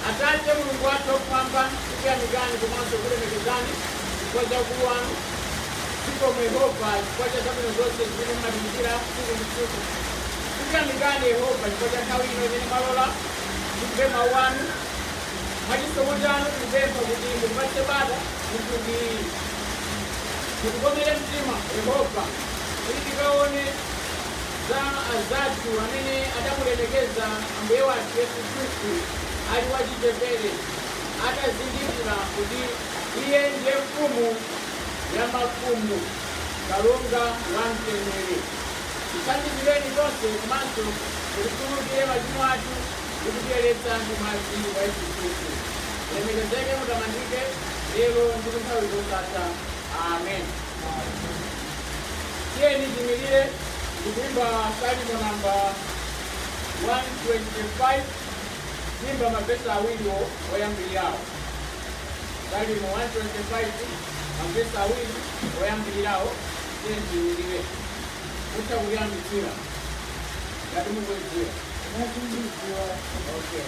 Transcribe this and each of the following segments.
Atate, Mulungu wathu wakumwamba, tikuyamikani komanso kulemekezani chifukwa cha ukulu wanu. Zikomo Yehova chifukwa cha zabwino zonse zimene mumatichitira tsiku ndi tsiku. Tikuyamikani Yehova chifukwa cha nthawi ino imene mwalola timve mawu anu. Mwa chisomo chanu tikupempha kuti mutipatse bata kuti ndithu. Mutikomere mtima Yehova kuti tikaone za anzathu amene adamulemekeza Ambuye wathu Yesu Khristu ali wachichepere, atazindikira kuti Iye ndiye Mfumu ya mafumu, Kalonga wa mtendere. Tithandizireni tonse komanso mutikhululukire machimo athu ndi kutiyeretsa ndi mwazi wa Yesu Khristu. Mulemekezeke, mutamandike, lero ndi kunthawi zosatha. Amen. Tiyeni tiimirire ndikuimba salimo namba 125 kuimba mavesi awiri oyambirirawo salimo 125 mavesi awiri oyambirirawo tiyeni tiimirire mutha kuyambitsira ngati mukuidziwa okay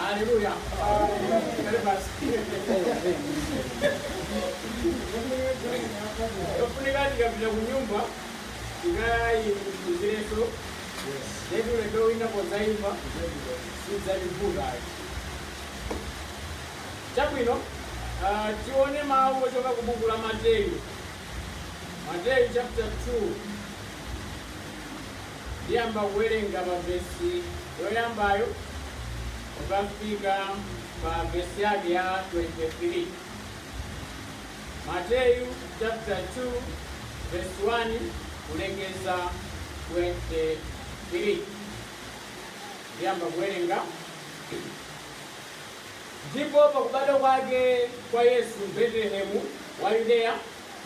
Haleluya. Kale basi. Yofunika tikapita ku nyumba tikaiikiretu yetu ulendo wina podzaimba sidzativuta ayi. Chabwino ah, tione mawu ochoka ku buku la Mateyu. Mateyu chapter 2 Ndiyamba kuwerenga pa vesi yoyambayo kukafika pa vesi yake ya 23. Mateyu chaputala 2 vesi 1 kulekeza 23. Ndiyamba kuwerenga. Ndipo pakubadwa kwake kwa Yesu m'Betelehemu wa Yudeya,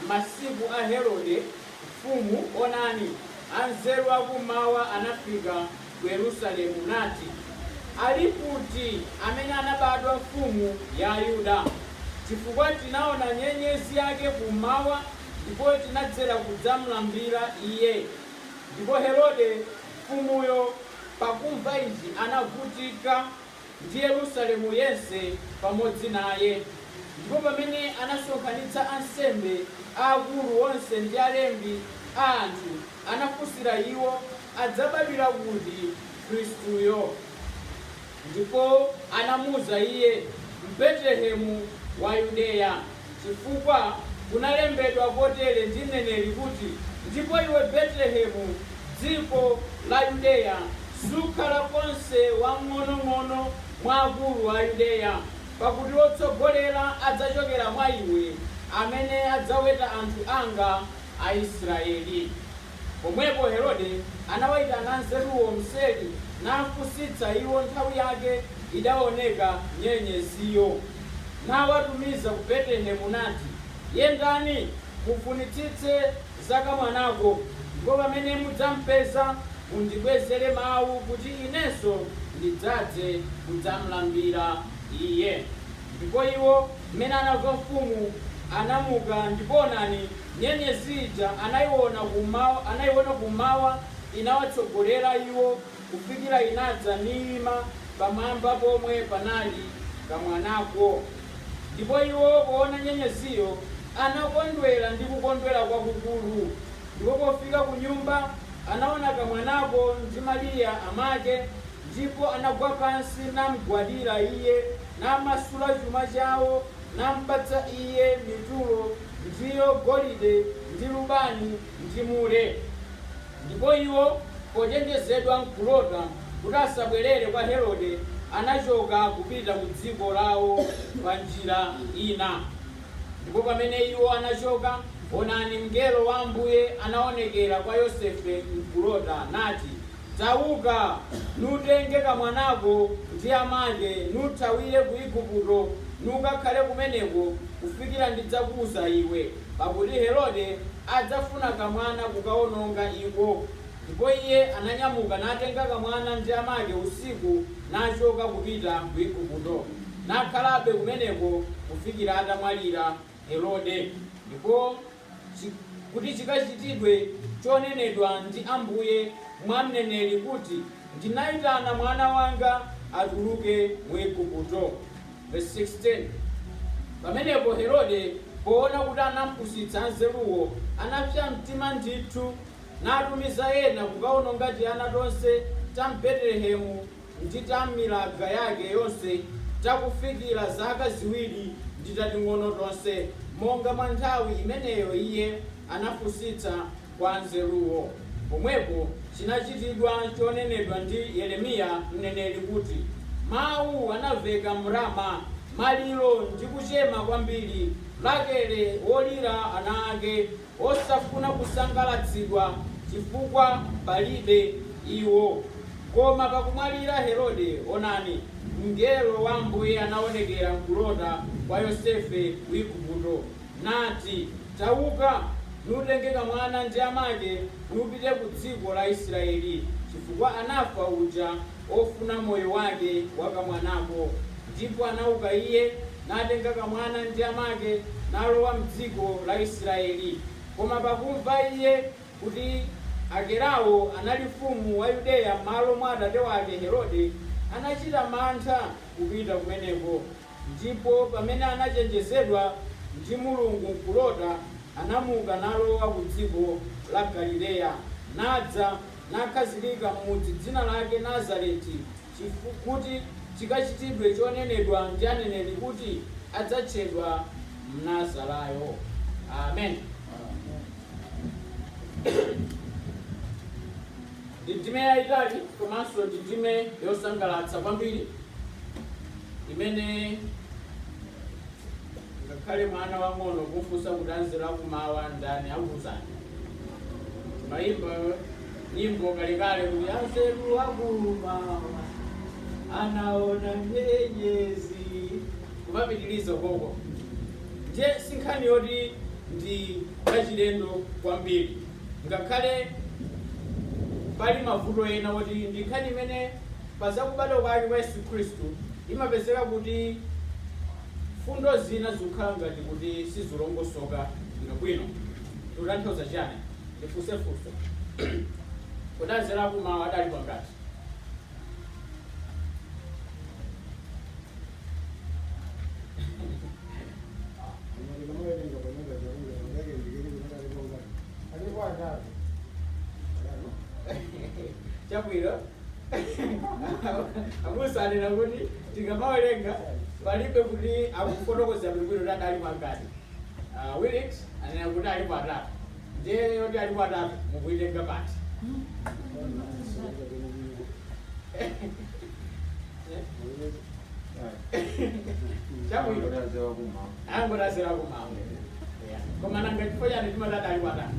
m'masiku a Herode, mfumu, onani, anzeru a kum'mawa anafika ku Yerusalemu, nati, Ali kuti amene anabadwa mfumu ya Ayuda? Chifukwa tinaona nyenyezi yake kum'mawa, ndipo tinadzera kudzamlambira Iye. Ndipo Herode mfumuyo pakumva izi anavutika ndi Yerusalemu yense pamodzi naye, ndipo pamene anasonkhanitsa ansembe aakulu onse ndi alembi a anthu, anafunsira iwo, Adzabadwira kuti Khristuyo? Ndipo anamuuza iye, M'Betelehemu wa Yudeya. Chifukwa kunalembedwa kotere ndi mneneri kuti, Ndipo iwe Betelehemu, dziko la Yudeya, sukhala konse wamng'onong'ono mwa akulu a Yudeya, pakuti wotsogolera adzachokera mwa iwe, amene adzaweta anthu anga Aisraeli. Pomwepo Herode anawaitana anzeruwo mseri, nafunsitsa iwo nthawi yake idaoneka nyenyeziyo. Nawatumiza ku Betelehemu, nati, Yendani, mufunitsitse za kamwanako, ndipo pamene mudzampeza, mundibwezere mau, kuti inenso ndidzadze kudzamlambira Iye. Ndipo iwo, m'mene anamva mfumu, anamuka, ndipo onani, Nyenyezi ija anaiwona kummawa, anaiwona kummawa, inawatsogolera iwo kufikira inadza niima pamwamba pomwe panali kamwanako. Ndipo iwo powona Nyenyeziyo, anakondwera ndi kukondwera kwakukulu. Ndipo pofika kunyumba, anawona kamwanako ndi Mariya amake, ndipo anagwa pansi namgwadira iye, namasula chuma chawo. nampatsa iye mitulo, ndiyo golide, ndi lubani, ndi mure. Ndipo iwo, pochenjezedwa m'kulota kuti asabwerere kwa Herode, anachoka kupita ku dziko lawo pa njira ina. Ndipo pamene iwo anachoka, onani, mngelo wa Ambuye anaonekera kwa Yosefe m'kulota, nati. Tauka, nutenge kamwanako ndi amake, nuthawire ku Igupto, nukakhale kumeneko kufikira ndidzakuuza iwe, pakuti Herode adzafuna kamwana kukaononga iko. Ndipo iye ananyamuka natenga kamwana ndi amake usiku nachoka kupita ku Igupto, nakhalabe kumeneko kufikira atamwalira Herode. Ndipo. kuti chikachitidwe chonenedwa ndi Ambuye mwa mneneri kuti, Ndinaitana mwana wanga atuluke mu Igupto. Vesi 16, Pamenepo Herode, poona kuti anampusitsa anzeruwo, anapsa mtima ndithu, natumiza ena kukaononga tiana tonse ta m'Betelehemu ndi ta m'milaga yake yonse takufikira zaka ziwiri ndi tating'ono tonse, monga mwa nthawi imeneyo iye anafunsitsa kwa anzeruwo, pomwepo chinachitidwa chonenedwa ndi Yeremiya mneneri, kuti, Mawu anamveka m'Rama, maliro ndi kuchema kwambiri, Rakele wolira ana ake. osafuna kusangalatsidwa chifukwa palibe iwo. Koma pakumwalira Herode, onani, mngelo wa Ambuye anaonekera m'kulota kwa Yosefe ku Igupto, nati, Tauka, nutenge kamwana ndi amake, nupite ku dziko la Israyeli, chifukwa anafa uja ofuna moyo wake wa kamwanako. Ndipo anauka iye, natenga kamwana ndi amake, nalowa m'dziko la Israyeli. Koma pakumva iye kuti Akelao anali mfumu wa Yudeya m'malo mwa atate wake Herode, anacita mantha kupita kumeneko, ndipo pamene anacenjezedwa ndi Mulungu m'kulota, anamuka nalowa ku dziko la Galileya, nadza. nakhazikika m'mudzi dzina lake Nazareti, kuti chikachitidwe chonenedwa ndi aneneri kuti, Adzatchedwa Mnazarayo. Amen. Ndi ndime yayitali komanso ndi ndime yosangalatsa kwambiri imene ngakhale mwana wang'ono kumfunsa kuti anzeru akumawa ndani akuuzani. Maimba nyimbo kalekale kuti anzeru akumawa anaona nyenyezi kumapitiliza koko ndiye si nkhani yoti ndi yachilendo kwambiri ngakhale pali mavuto ena oti ndi nkhani imene pa zakubadwa kwake kwa yesu khristu imapezeka kuti fundo zina zikukhala ngati kuti sizilongosoka bwinobwino Tikutanthauza chiyani? Ndifunse funso. Kodi anzeru akumawa adali kwangati? chabwino abusa anena kuti tikamawerenga palibe kuti akufotokoza bwinobwino kuti adali kwangati wilix anena kuti alipo atatu ndiye yoti alipo atatu mukuitenga pati chabwino angoti anzeru akumawa koma nanga chifukwa chani timati adali patatu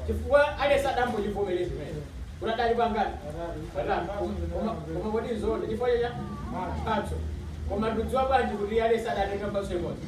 chifukwa aliyense akungochivomereza mmene kuti adali pangati patatu Koma- koma kodi nzoona chifukwa cha mphatso koma tikudziwa bwanji kuti aliyense adatenga mphatso imodzi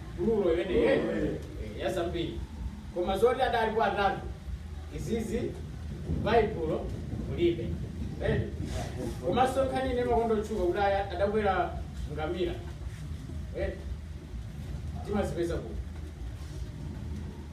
gululo imeneyi eti eh, ya zambiri koma zoti adalipo atatu izizi m'baibulo mulibe eti komanso nkhani ine makondo otchuka kuti aya- adakwera ngamira eti timazipeza kuti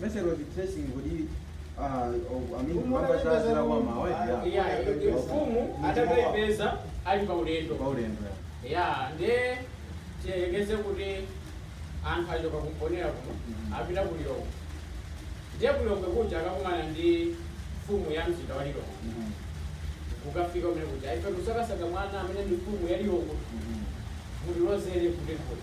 Method of tracing kodi ah, oh, I mean, Umu kamba za anzeru a kummawa ya. Yeah, Yeah, mfumu yeah. adakaipeza ali pa ulendo Kwa ulendo ya. ya nde tiyerekeze kuti anthu achoka ku Mponela kuno Mhm. apita ku lilongwe ndiye ku lilongwe kuja akakumana ndi mfumu ya mzinda wa lilongwe Mhm. kukafika kumene kuja ife kusakasaka mwana amene ndi mfumu ya lilongwe Mhm. mutilozere kuti kuli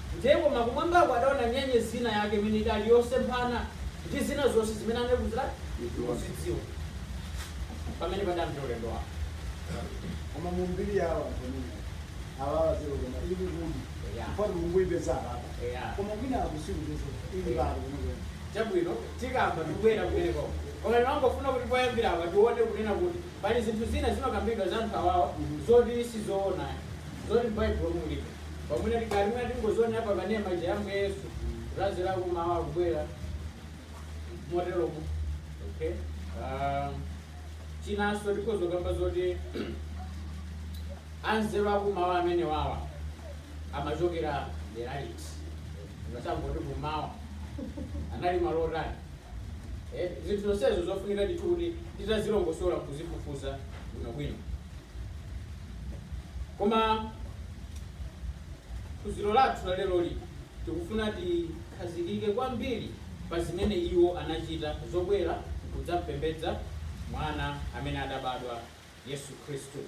Ndiyepo kumwambako adaona nyenyezi ina yake imene idali yosemphana ndi zina zonse zimene anali kuchitani? Kuzidziwa. Pamene padayambira ulendo wawo. Koma mu mbiri yawo anthu amenewa awawa zero koma ili kuli Eya. chifukwa tikungoipeza apapa Eya. koma kwina akusikupeza ili Eya. pali kunokwena Chabwino tikamba tibwera kumeneko. Koma ndimangofuna kuti poyambira apa tione kunena kuti pali zinthu zina zimakambidwa za anthu awawa zoti sizoona. Zoti m'Baibulo mulibe. Pamwina tikali mwina tingozionera pa kanema ija ya Ambuye Yesu anzeru a kummawa akubwera motero mu okay um, chinanso tikhoza kukamba zoti anzeru a kummawa amene awawa amachokera dera liti ngati angoti kummawa anali malo otani Eh, zinthu zonsezo zofunika ndithu kuti titazilongosola kuzifufuza bwinobwino koma phunziro lathu la lero lino tikufuna tikhazikike kwambiri pa zimene iwo anachita zobwera kudzampembedza mwana amene adabadwa yesu khristu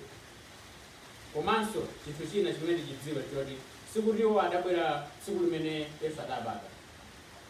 komanso chinthu china chimene tichidziwe choti sikuti iwo adabwera tsiku limene yesu adabadwa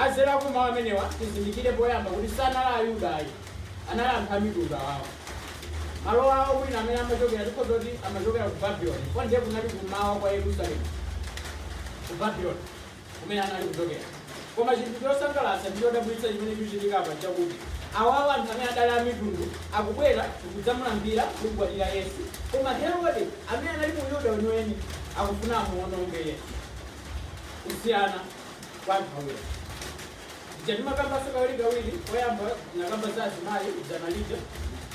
Anzeru a kummawa amenewa, tizindikire poyamba kuti sanali Ayuda ayi, anali anthu a mitundu awawa. Malo awo mwina amene amachokera tikhoza kuti amachokera ku Babylon, chifukwa ndiye kunali kummawa kwa Yerusalemu, ku Babylon kumene anali kuchokera. Koma chinthu chosangalatsa ndi chodabwitsa chimene chikuchitika apa nchakuti awawa, anthu amene adali a mitundu, akubwera nkudzamulambira, kumgwadira Yesu, koma Herode, amene anali Muyuda weniweni, akufuna amuwononge Yesu. Kusiyana. kwa anthu awiri paja timakambanso kawirikawiri poyamba tinakamba za azimayi dzana lija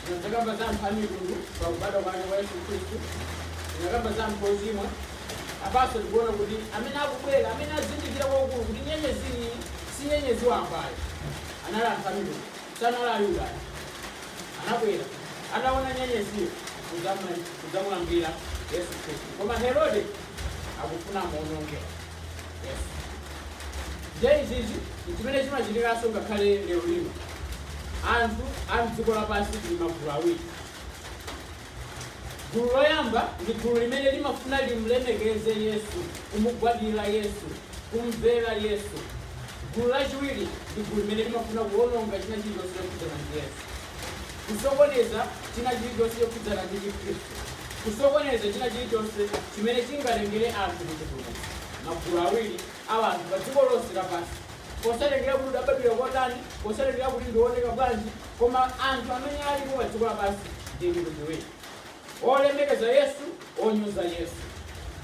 tinadzakamba za anthu a mitundu pa kubadwa kwake kwa yesu khristu tinakamba za anthu ochimwa apanso tikuona kuti amene akubwera amene azindikira kwakukulu kuti nyenyezi iyi si nyenyezi wamba ayi anali anthu a mitundu sanali ayuda ayi anabwera anaona nyenyeziyo kudzamulambira yesu khristu koma herode akufuna amuononge ndiye izizi nchimene chimachitikanso ngakhale lero lino anthu a mdziko lapansi tili magulu awiri gulu loyamba ndi gulu limene limafuna limulemekeze yesu kumugwadira yesu kumvera yesu gulu lachiwiri ndi gulu limene limafuna kuononga china chilichonse chokhudzana ndi yesu kusokoneza china chilichonse chokhudzana ndi Chikhristu, kusokoneza china chilichonse chimene chingatengere anthu ku chipulumutso. Magulu awiri a anthu pa dziko lonse lapansi, posatengera kuti udabadwira kotani, posatengera kuti ndiwoneka bwanji, koma anthu amene alipo pa dziko lapansi ndi mitundu iwiri, olemekeza Yesu, onyoza Yesu.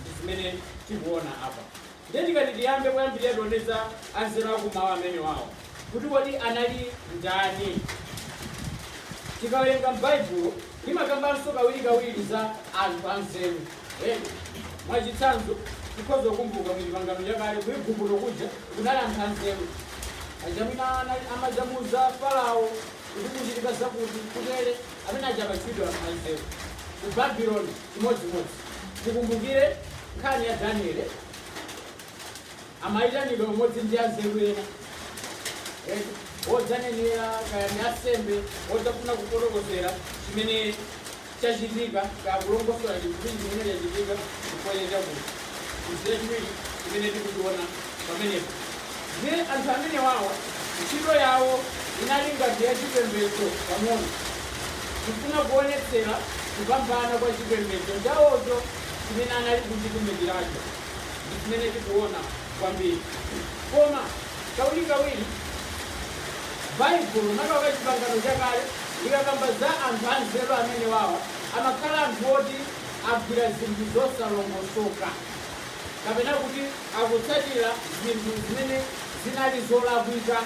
Ndi zimene tikuona apa. Ndiye tikati tiyambe poyambilira tione za anzeru aku m'mawa amenewawo kuti kodi anali ndani. Tikawerenga m'Baibulo limakambanso kawiri kawiri za anthu anzeru ena. Mwachitsanzo tikhoza kukumbuka mu chipangano chakale ku Iguputo kuja kunali anthu anzeru aja amene amadzamuuza Falao kuti kuchitika zakuti kutere amene aja amatchulidwa anthu anzeru. Ku Babeloni. chimodzimodzi. Tikumbukire nkhani ya Daniele, amayitanidwa pamodzi ndi anzeru ena Eh, wodzanenera kaya ndi asembe wodzafuna kufotokozera chimene chachitika kaya kulongosola chinthu chimene chachitika chifukwa chakuti Ndiye chachiwiri chimene tikuchiona pamenepa, ndiye anthu amenewawa ntchito yawo inali ngati yachipembedzo pang'ono, kufuna kuonetsera kupambana kwa chipembedzo chawocho chimene anali kuchitumikiracho. Ndi chimene tikuona kwambiri. Koma kawirikawiri Baibulo, makamaka Chipangano Chakale, likakamba za anthu anzeru amenewawa, amakhala anthu oti. agwira zinthu zosalongosoka, kapena kuti akutsatira zinthu zimene zinali zolakwika,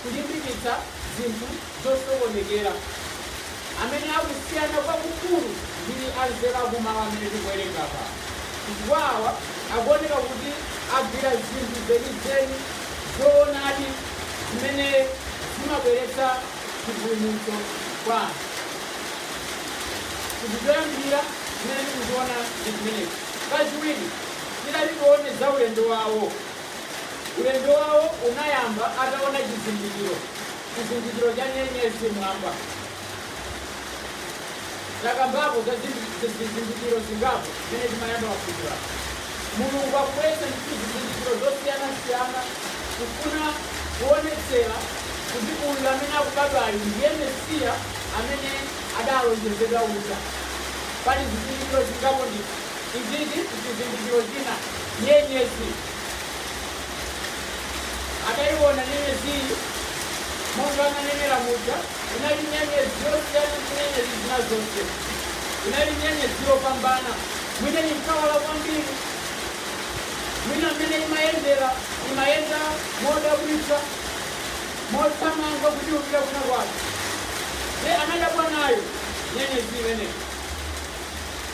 kulimbikitsa zinthu zosokonekera, amene akusiyana kwakukulu ndi anzeru akummawa amene tikuwerenga apa, chifukwa awa akuoneka kuti agwira zinthu zenizeni, zoonadi zimene zimabweretsa chipulumutso kwa anthu chinthu choyambirira chimene tikuchiona ndi chimenechi kachiwiri tikati tione za ulendo wawo ulendo wawo unayamba ataona chizindikiro chizindikiro cha nyenyezi mwamba takambapo za zizindikiro zingapo zimene timayamba taphunzira Mulungu akubweretsa zizindikiro zosiyanasiyana kufuna kuonetsera kuti uyu amene akubadwayu ndiye Mesiya amene adalonjezedwa uja. Pali zizindikiro zingapo ndithu. Izizi ndi chizindikiro china. Nyenyezi. Ataiona nyenyezi monga ananenera muja inali nyenyezi yosiyana ndi nyenyezi zina zonse. Inali nyenyezi yopambana. mwina ndi kuwala kwambiri mwina mmene imayendera imayenda modabwitsa mothamanga kupita kuna kwake ye anadabwa nayo nyenyezi imeneyi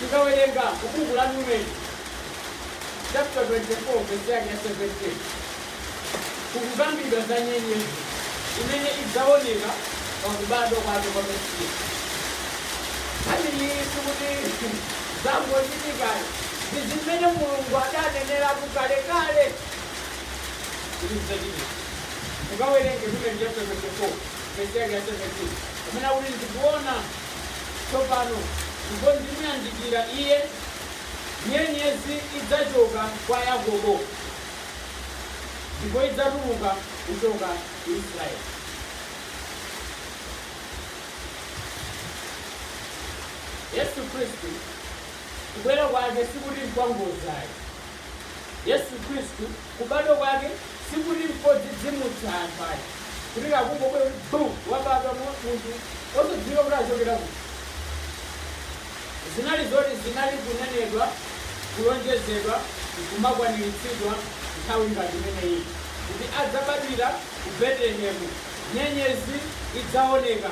tikawerenga buku la numeri chapter 24 vesi yake ya 17 kukukambidwa za nyenyezi imene idzaoneka pa kubadwa kwake kwa Mesiya. Nkhaniyi sikuti zangochitika ayi, ndi zimene Mulungu adaneneratu kalekale kuti zidzachitika. Mukawerenge Numeri chapter 24 verse yake ya 17 amene akuti ndikuona tsopano ndipo ndimuyandikira iye nyenyezi idzachoka kwa Yakobo ndipo idzatuluka kuchoka ku Israeli. Yesu Khristu kubwera kwake sikuti nkwangozi ayi. Yesu Khristu kubadwa kwake sikuti nkodzidzimutsa anthu ayi kuti kakungobwe bu wabadwa mu- munthu osadziwika kuti achokera kuti zinali zoti zinali kunenedwa, kulonjezedwa, n'kumakwaniritsidwa nthawi ngati imeneyi, kuti, Adzabadwira ku Betelehemu, nyenyezi idzaoneka.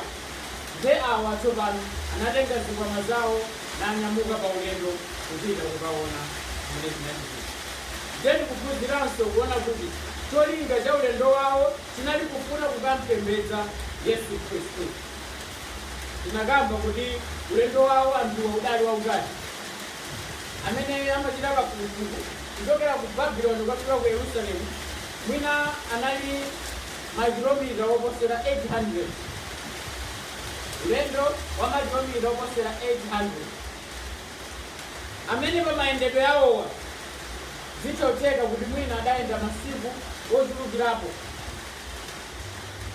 Ndiye awa tsopano anatenga zikwama zawo nanyamuka paulendo kupita kukaona zimene zinachitika. Ndiye tikuphunziranso kuona kuti cholinga cha ulendo wawo chinali kufuna kukam'pembedza Yesu Khristu. Tinakamba kuti ulendo wawo anthuwa udali wautali. Amene amachita kafukufuku kuchokera ku Babylon kukafika ku Yerusalemu mwina anali makilomita oposera 800. Ulendo wa makilomita oposera 800. Amene pamayendedwe awowa zikutheka kuti mwina adayenda masiku ochulukirapo.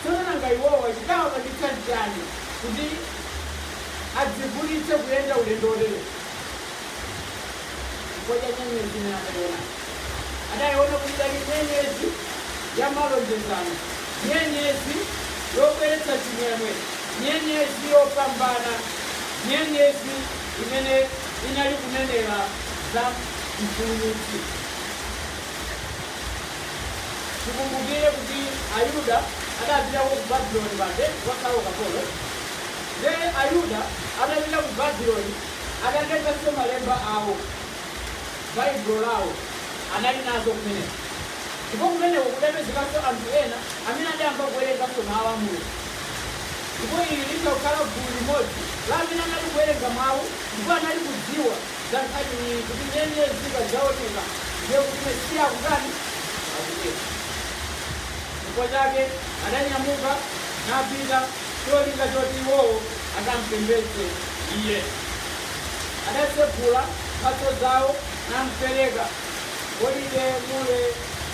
Tsono nanga iwowa chidawapangitsa nchiyani kuti adzivutitse kuyenda ulendo woterewu? Chifukwa cha nyenyezi imene adaiwonayo. Adaiwona kuti idali nyenyezi ya malonjezano, nyenyezi yobweretsa chimwemwe, nyenyezi yopambana, nyenyezi imene inali kunenera za Mpulumutsi. Tikumbukire kuti Ayuda adapitako ku Babuloni paja kukakhala ukapolo. Nde Ayuda adapita ku Babuloni adatengako malemba awo, Baibulo lawo, anali nazo kumeneko. Ndipo kumeneko kudapezekanso anthu ena amene adayamba kuwerenganso Mawu a Mulungu. Ndipo ili litha kukhala gulu limodzi la amene anali kuwerenga Mawu ndipo anali kudziwa. za nkhaniyi kuti nyenyezi ikadzaoneka ndiye kuti Mesiya akutani? Akubwera. Chifukwa chake adanyamuka napita cholinga choti iwowo akampembedze iye. Adatsegula mphatso zawo nampereka golide, mure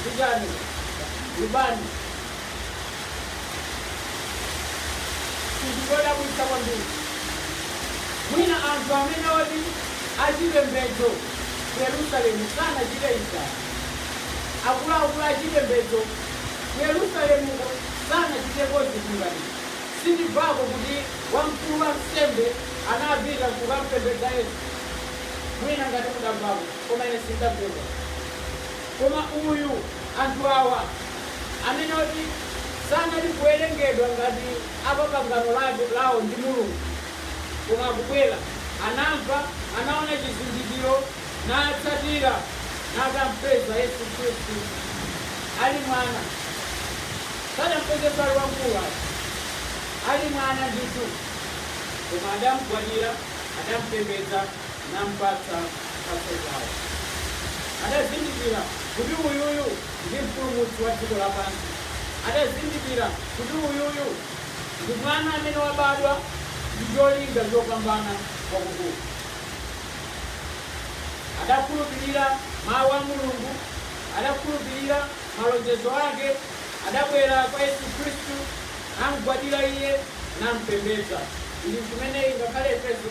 ndi chani? Lubani. Chinthu chodabwitsa kwambiri, mwina anthu amene oti achipembedzo ku Yerusalemu sanachite izi ayi. Akuluakulu achipembedzo ku Yerusalemuko sanachitepo zinthu ngati izi. Sitimvako kuti wamkulu wansembe anapita n'kukam'pembedza Yesu. Mwina ngati mudamvako, koma ine sindidamvepo ayi. Koma uyu, anthu awa, amene oti sanali kuwerengedwa ngati a pa pangano lawo ndi Mulungu, koma akubwera, anamva, anaona chizindikiro, natsatira, nakampeza Yesu Khristu ali mwana. Sadampezenso ali wamkulu ayi, ali mwana ndithu, koma adamgwadira, adampembedza. nampatsa mphatso zao. Adazindikira kuti uyuyu ndi Mpulumutsi wa dziko lapansi. Adazindikira kuti uyuyu ndi Mwana amene wabadwa ndi cholinga chopambana kwakukulu. Adakhulupirira Mau a Mulungu, adakhulupirira malonjezo ake, adabwera kwa Yesu Khristu, namgwadira Iye, nampembedza. Izi nzimene ngakhale ifenso.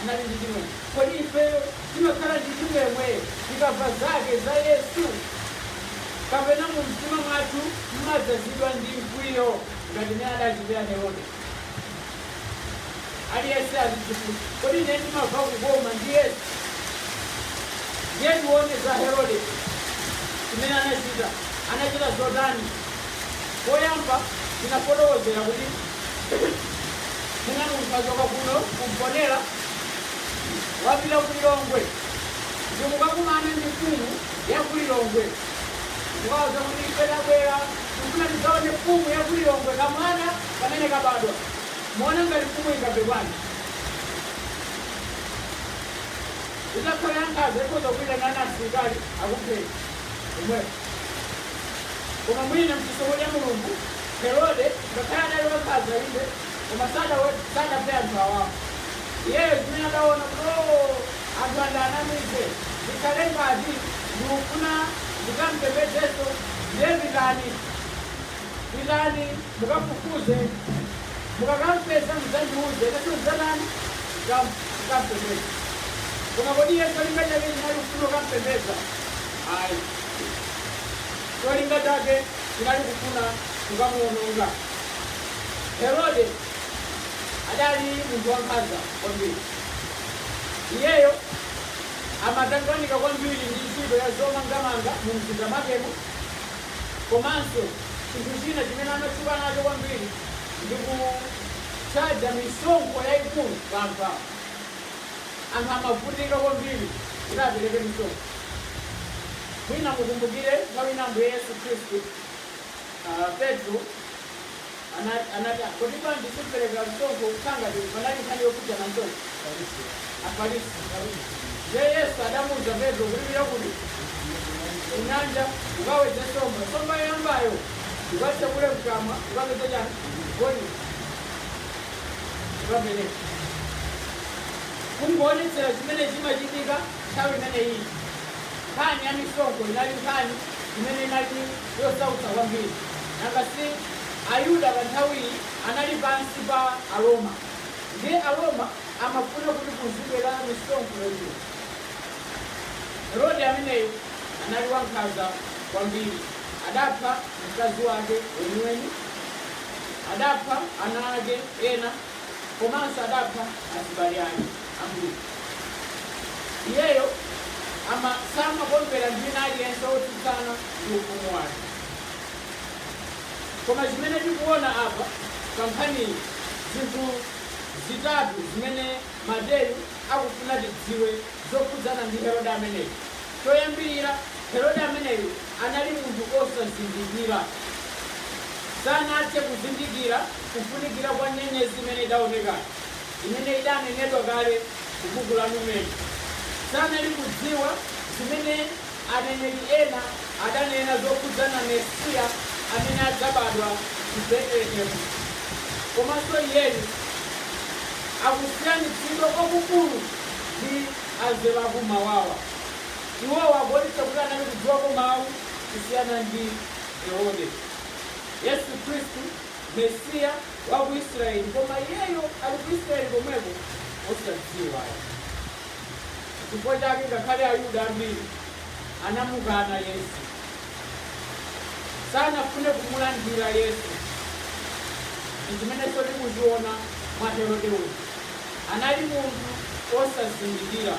anali ndi chimwemwe. Kodi ifeyo timakhala ndi chimwemwe tikamva zake za Yesu? Kapena mumtima mwathu mumadzazidwa ndi mkwiyo ngati mmene adachitira Herode? Aliyense azidzifunsa, kodi ine ndimamva kukoma ndi Yesu? Ndiye tione za Herode zimene anachita. Anachita zotani? Poyamba tinafotokozera kuti mwina anthu achoka kuno ku Mponela apita ku Lilongwe ndikukakumana ndi mfumu ya ku Lilongwe ndikawauza kuti ife tabwera tikufuna tidzaone mfumu ya ku Lilongwe kamwana kamene kabadwa muona ngati mfumu ingamve bwanji itakhala yankhaza ikhoza kuitana ana asilikali akupheni omwepo koma mwina mchisomo cha mulungu Herode, ngakhale adali wankhaza, inde, koma sadawedze, sadaphe anthu awawa. Iyeyo zimene adaona kuti, oo, anthu ndiwanamize, ndikhale ngati ndikufuna ndikampembedzenso, ndiye pitani, pitani mukafufuze, mukakampeza mudzandiuze, inenso ndidzatani, ndikam, ndikampembedze. Koma kodi iye cholinga chake chinali kufuna kukampembedza? Ayi. Cholinga chake chinali kufuna kukamuwononga. Herode adali munthu wankhanza kwambiri. Iyeyo amatanganika kwambiri ndi ntchito ya zomangamanga mu mzinda mwakemo komanso chinthu china chimene amatchuka nacho kwambiri ndi kuchaja misonkho yayikulu pa anthu awo. Anthu amavutika kwambiri kuti apereke msonkho. Mwina mukumbukire nthawi ina Ambuye Yesu Khristu, ah, Petro ana- anati, "Ah, kodi bwanji sitipereka msonkho kukhala ngati panali nkhani yokhudzana msonkho Afarisi. Ndiye Yesu adamuwuza Petro kuti pita kuti kunyanja ukawedze nsomba. Nsomba yoyambayo ukatsekule mkamwa ukapeza chani? Golide. pamene kungoonetsera chimene chimachitika nthawi imene iyi nkhani ya misonkho inali nkhani imene inali yosautsa kwambiri nanga si ayuda pa nthawiyi anali pansi pa aroma ndiye aroma amafuna kuti kuzibwera misonkho yochuluka herode ameneyo anali wankhanza kwambiri adapha mkazi wake weniweni Adapha ana ake ena komanso adapha azibale ake ambiri. Iyeyo ama samakondwera ndi wina aliyense wotsutsana ndi ufumu wake. Koma chimene tikuona apa pa nkhaniyi, zinthu zitatu zimene. Mateyu akufuna tidziwe zokhudzana ndi Herode ameneyu. Choyambirira, Herode ameneyu anali munthu osazindikira. Sanathe kuzindikira kufunikira kwa nyenyezi imene idaoneka, imene idanenedwa kale ku buku la Numeri. Sanali kudziwa zimene. Aneneri ena adanena zokhudzana Mesiya amene adzabadwa ku Betelehemu komanso iyeyu akusiyanitsidwa kwakukulu ndi anzeru akummawawa. Iwowa akuonetsa kuti anali kudziwako mawu kusiyana ndi Herode. Yesu Khristu, Mesiya waku Israeli koma iyeyo ali ku Israeli komweko osadziwa ayi. Chifukwa chake ngakhale Ayuda ambiri anamukana Yesu. Sanafune kumulandira Yesu. Ndi zimenenso tikuziona mwa Herode uyu. Anali munthu wosazindikira.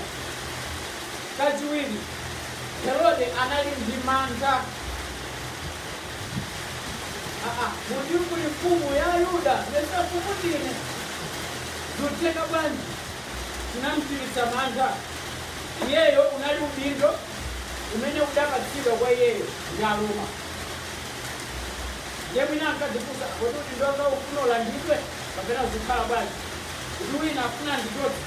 Kachiwiri, Herode anali ndi mantha. Muti kuli mfumu ya Ayuda, mesa mfumu ndine? Zitheka bwanji? chinamchititsa mantha. Iyeyo unali udindo umene udapatsidwa kwa iyeyo ndi Aroma. Ndiye mwina ankadzifunsa, kodi udindo wanga ufuna ulandidwe kapena zikhala bwanji? Kuti wina afuna andichotse.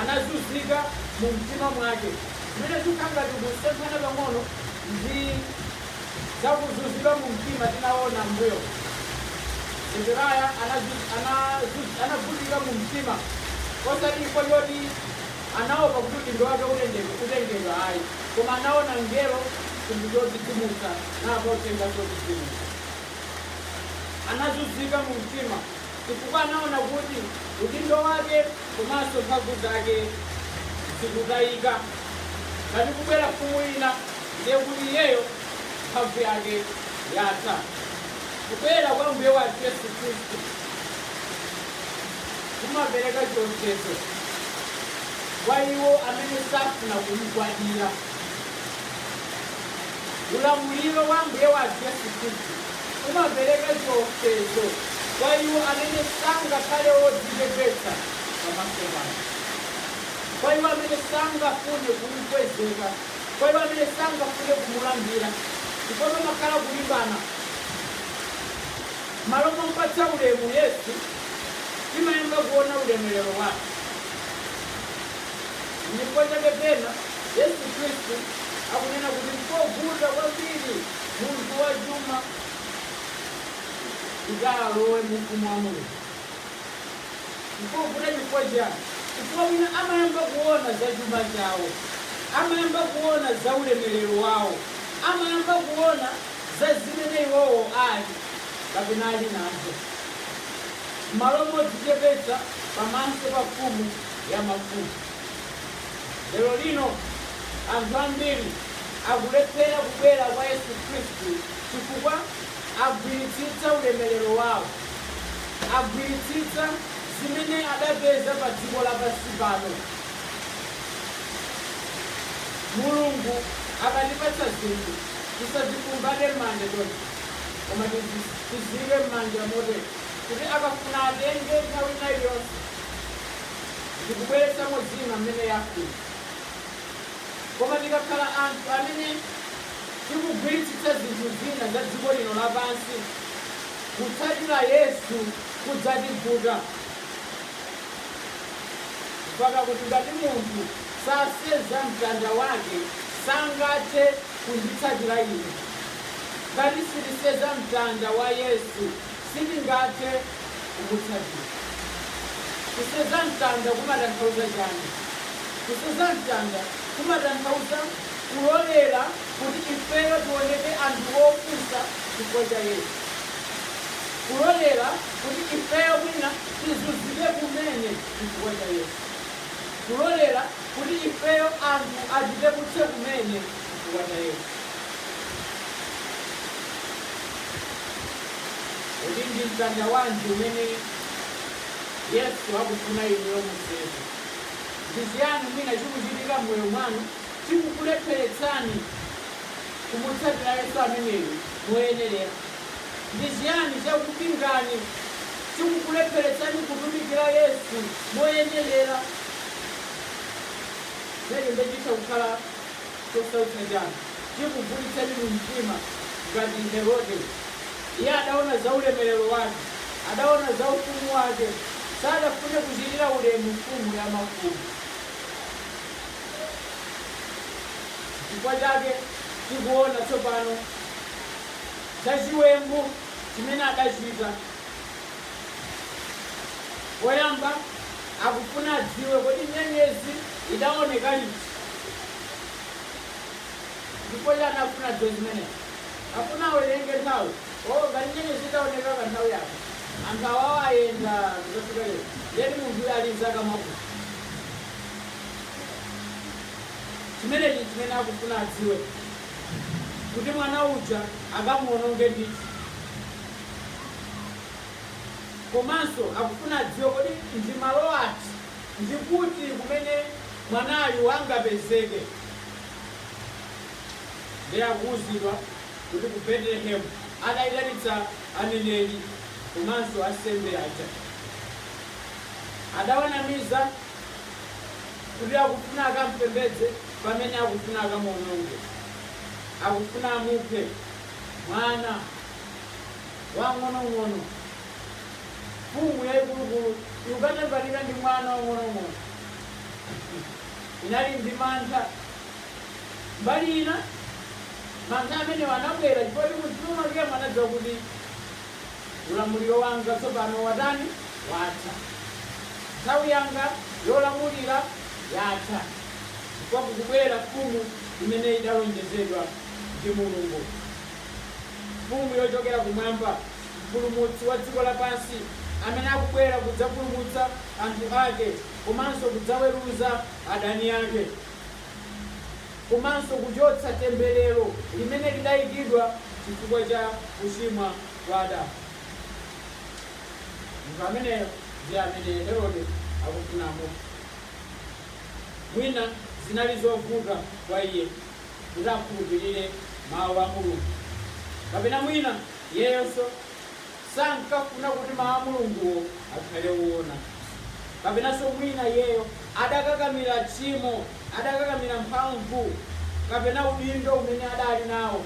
Anazunzika mu mtima mwake. Zimene zikukhala ngati kusemphana pang'ono ndi za kuzunzika mumtima tinaona m'mbuyomu, Zechariah anavutika mumtima osati chifukwa choti anaopa kuti udindo wake utengedwa ayi, koma anaona mngelo, chinthu chodzidzimutsa, namvanso uthenga wodzidzimutsa. Anazunzika mumtima chifukwa anaona kuti udindo wake komanso mphamvu zake zikutayika ngati kubwera mfumu ina. ndiye kuti iyeyo mphamvu yake yatha. Kubwera kwa Ambuye wathu Yesu Khristu kumapereka chiopsezo kwa iwo amene safuna kumgwadira. Ulamuliro wa Ambuye wathu Yesu Khristu umapereka chiopsezo kwa iwo amene sangakhale odzichepetsa pamaso pake, kwa iwo amene sangafune kumkwezeka kwa iwo amene sangafune kumulambira ndipo pamakhala kulimbana. M'malo mompatsa ulemu Yesu, timayamba kuona ulemerero wake. N'chifukwa chake pena Yesu Kristu akunena kuti nkovuta kwambiri munthu wachuma kuti alowe mu ufumu wa Mulungu. Nkovuta chifukwa chani? Chifukwa mwina amayamba kuona za chuma chawo, amayamba kuona za ulemelero wawo, amayamba kuona za zimene iwowo ali kapena ali nazo, m'malo modzichepetsa pamaso pa Mfumu ya mafumu. Lero lino anthu ambiri akulephera kubwera kwa Yesu Khristu chifukwa. agwiritsitsa ulemerero wao, agwiritsitsa zimene adapeza pa dziko lapansi pano. Mulungu akatipatsa zinthu, tisazikumbate m'manja chonchi, koma tiziike m'manja motere kuti akafuna atenge nthawi ina iliyonse ndikubweretsamo zina m'mene afuna. Koma tikakhala anthu amene tikugwiritsitsa zinthu zina za dziko lino lapansi, kutsatira Yesu kudzativuta. Mpaka kuti ngati munthu saseza mtanda wake, sangathe kunditsatira Ine. Ngati sitiseza mtanda wa Yesu. Sitingathe kumutsatira. Kuseza mtanda kumatanthauza chani? Kuseza mtanda kumatanthauza kulolera kuti ifeyo tioneke anthu opusa chifukwa cha Yesu. Kulolera kuti ifeyo mwina tizunzike kumene chifukwa cha Yesu. Kulolera kuti ifeyo anthu atipeputse kumene chifukwa cha Yesu. Kodi ndi mtanda wanji umene Yesu akufuna inuyo museze? Ndi chiyani mwina chikuchitika m'moyo mwanu chikukulepheretsani kumutsatira Yesu ameneyo moyenerera? Ndi chiyani chakupingani, chikukulepheretsani kutumikira Yesu moyenerera? Zimenezo ndiye chitha kukhala. Chosautsa chanu chikuvutitsani mu mtima ngati Herode. Iye adaona za ulemerero wake, adaona za ufumu wake, sadafune kuchitira ulemu mfumu ya mafumu. Nchifukwa chake tikuona tsopano za chiwembu chimene adachita. Poyamba akufuna adziwe, kodi nyenyezi idaoneka liti? ndipo iye anafuna adziwe zimenezi akufuna awerenge nthawi o ngati nyenyezi itaoneka pa nthawi yake anthu awawo ayenda adzafika lero ndiye munthu uyu ali ndi zaka zakuti chimenechi chimene akufuna adziwe kuti mwana uja akamuononge ndithu komanso akufuna adziwe kodi ndi malo ati ndikuti kumene mwanayu angapezeke. Nde akuuzidwa kuti ku Betelehemu adaitanitsa aneneri komanso ansembe aja. Adawanamiza kuti akufuna akampembedze pamene akufuna akamuononge. Akufuna amuphe mwana wang'onong'ono. Mfumu yaikulukulu ikuphaphalika ndi mwana wang'onong'ono. inali ndi mantha. Mbali ina, mantha amenewo anabwera chifukwa choti mumtima mwakemo anadziwa kuti ulamuliro wanga tsopano watani? Watha. Nthawi yanga yolamulira yatha chifukwa kukubwera mfumu imene idalonjezedwa ndi Mulungu, Mfumu yochokera kumwamba, Mpulumutsi wa dziko lapansi amene akubwera kudzapulumutsa anthu ake. komanso kudzaweruza adani ake komanso kuchotsa temberero limene lidayikidwa chifukwa cha kuchimwa kwa Adamu. Munthu ameneyo ndiye amene Herode akufuna amuphe. Mwina zinali zovuta kwa iye kuti akhulupirire mawu a Mulungu, kapena mwina iyeyonso Sankafuna kuti Mawu a Mulunguwo akhale oona. Kapenanso mwina iyeyo adakakamira tchimo, adakakamira mphamvu kapena udindo umene adali nawo.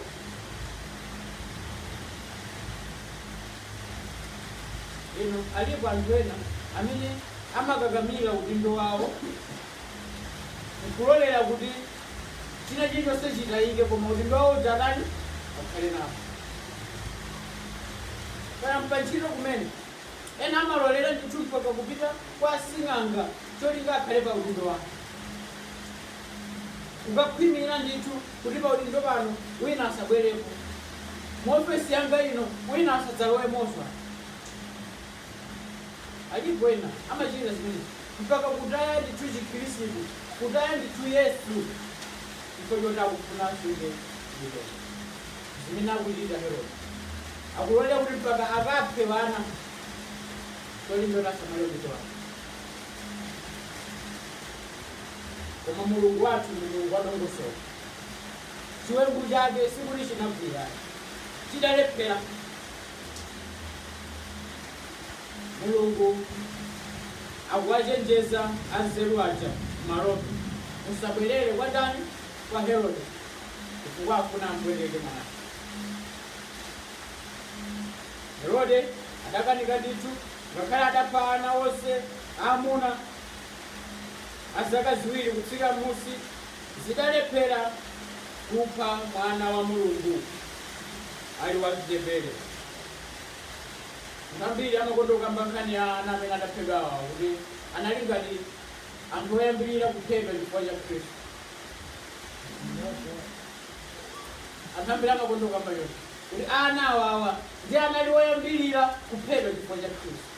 Inu, alipo anthu ena amene amakakamira udindo wawo n'kulolera kuti china chilichonse chitayike koma udindo wawo uja atani akhale nawo kaya m'pantchito kumene ena amalolera ndithu mpaka kupita kwa sing'anga cholinga akhale pa udindo wake kukakhwimira ndithu kuti pa udindo pano wina asabwerepo mu ofesi yanga ino wina asadzalowemonso Alipo ena amachita zimenezo, mpaka kutaya ndithu Chikhristu, kutaya ndithu Yesu, chifukwa choti akufuna asunge chipembedzo. Zimene akuchita Herode, akulolera kuti mpaka akaphe wana, cholinga choti asamale udindo wake. Koma Mulungu wathu ndi Mulungu wadongosolo. Chiwembu chake sikuti chinagwira, chidalephera. Mulungu akuwachenjeza anzeru aja m'maloto, Musabwerere kwa ndani? Kwa Herode, chifukwa afuna ampweteke Mwana. Herode adakanika ndithu, ngakhale adapha ana onse aamuna a zaka ziwiri kutsika m'musi, adalephera kupha Mwana wa Mulungu. ali wachichepere. Anthu ambiri amakonda kukamba nkhani ya ana amene adaphedwa awa kuti anali ngati anthu oyambirira kuphedwa chifukwa cha Khristu. Anthu ambiri amakonda kukamba kuti ana awawa ndi anali oyambirira kuphedwa chifukwa cha Khristu.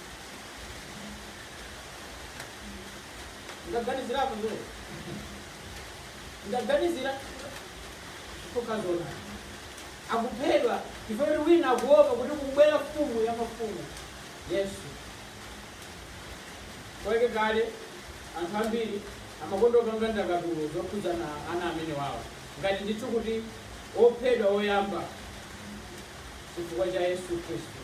Ndaganizirapo zimene ndaganizira chifukwa zona akuphedwa chifukwa choti wina akuopa kuti kubwera mfumu ya mafumu yesu kwake kale anthu ambiri amakonda kupanga ndakatulo zokhudza ana amenewawo ngati ndithu kuti ophedwa oyamba chifukwa cha yesu khristu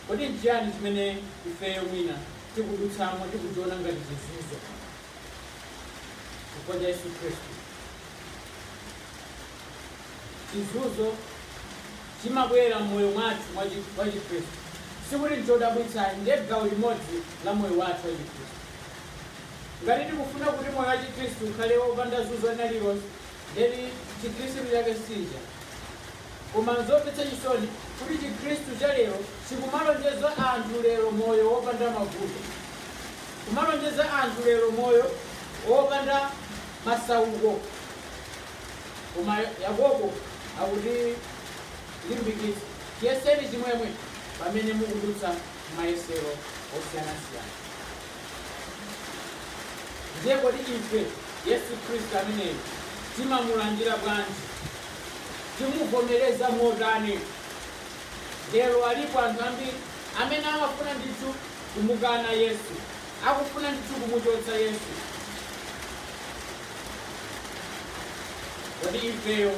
kodi nchiyani chimene ifeyo mwina tikudutsamo tikuchiona ngati chizunzo chifukwa cha yesu khristu chizunzo chimabwera mmoyo mwathu mwa chikhristu sikuti nchodabwitsa ayi ndi gawo limodzi la moyo wathu wa chikhristu ngati tikufuna kuti moyo wa chikhristu ukhale wopanda zunzo lina lilonse ndiye chikhristu chake sicha Koma n'zomvetsa chisoni kuti Chikristu cha lero chikumalonjeza anthu lero moyo wopanda mavuto, kumalonjeza anthu lero moyo wopanda masauko. Koma Yakobo akutilimbikitsa, Chiyeseni chimwemwe pamene mukudutsa m'mayesero osiyanasiyana. Ndiye kodi ife Yesu Kristu ameneyu timamulandira bwanji? Timuvomereza motani? Lero alipo anthu ambiri amene amafuna ndithu kumukana Yesu, akufuna ndithu kumuchotsa Yesu. Kodi ifeyo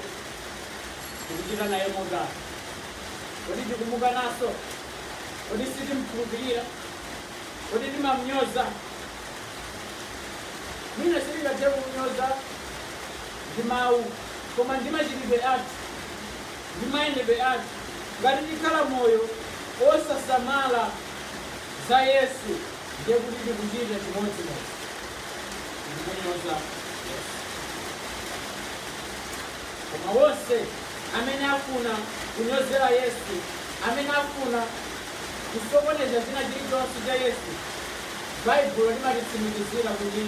tikuchita naye motani? Kodi tikumukananso? Kodi sitimkhulupirira? Kodi timamnyoza? Mwina sitingathe kumnyoza ndi mawu. koma ndi machitidwe athu ndi mayendedwe athu. Ngati tikhala moyo osasamala za Yesu, ndiye kuti tikuchita chimodzimodzi ndi kunyoza Yesu. Koma wonse amene afuna kunyozera Yesu, amene afuna kusokoneza china chilichonse cha Yesu, Baibulo limatitsimikizira kuti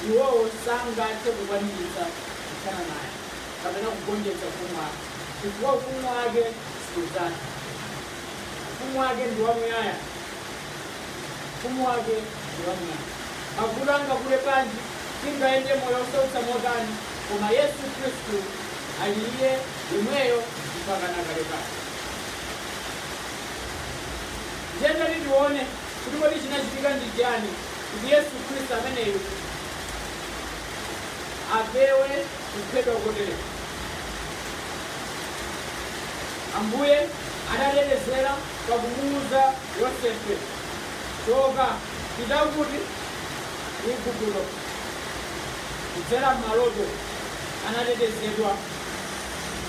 iwowo sangathe kukwaniritsa kuthana naye kapena kugonjetsa ufumu wake, chifukwa ufumu wake sudzatha. Ufumu wake ndi wamuyaya. Ufumu wake ndi wamuyaya. Mavuto angakule bwanji, tingayende moyo wosautsa motani, koma Yesu Khristu ali Iye yemweyo mpaka na kalekale. Ndiye tati tione kuti kodi chinachitika ndi chiyani kuti Yesu Khristu ameneyu apewe kuphedwa kotere. Ambuye anatetezera pakumuuza Yosefe, Choka, pita kuti? Ku Igupto. Kudzera m'maloto anatetezedwa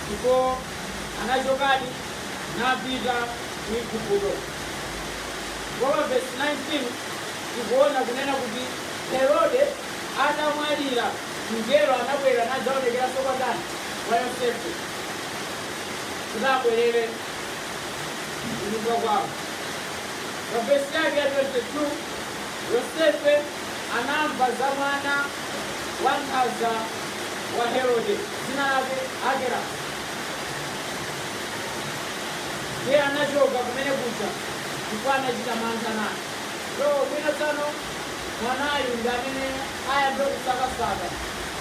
ndipo anachokadi napita ku Igupto. Ndipo pa vesi 19 tikuona kunena kuti Herode atamwalira, mngelo anabwera nadzaonekeranso kwa ndani? Kwa Yosefe, kuti abwerere kunyumba kwawo. Pa vesi yake ya 22, Yosefe anamva za mwana wankhanza wa Herode, dzina lake Arkelasi. Iye anachoka kumene kuja chifukwa anachita mantha naye. So, mwina tsano. mwanayu ndi amene ayambe kusakasaka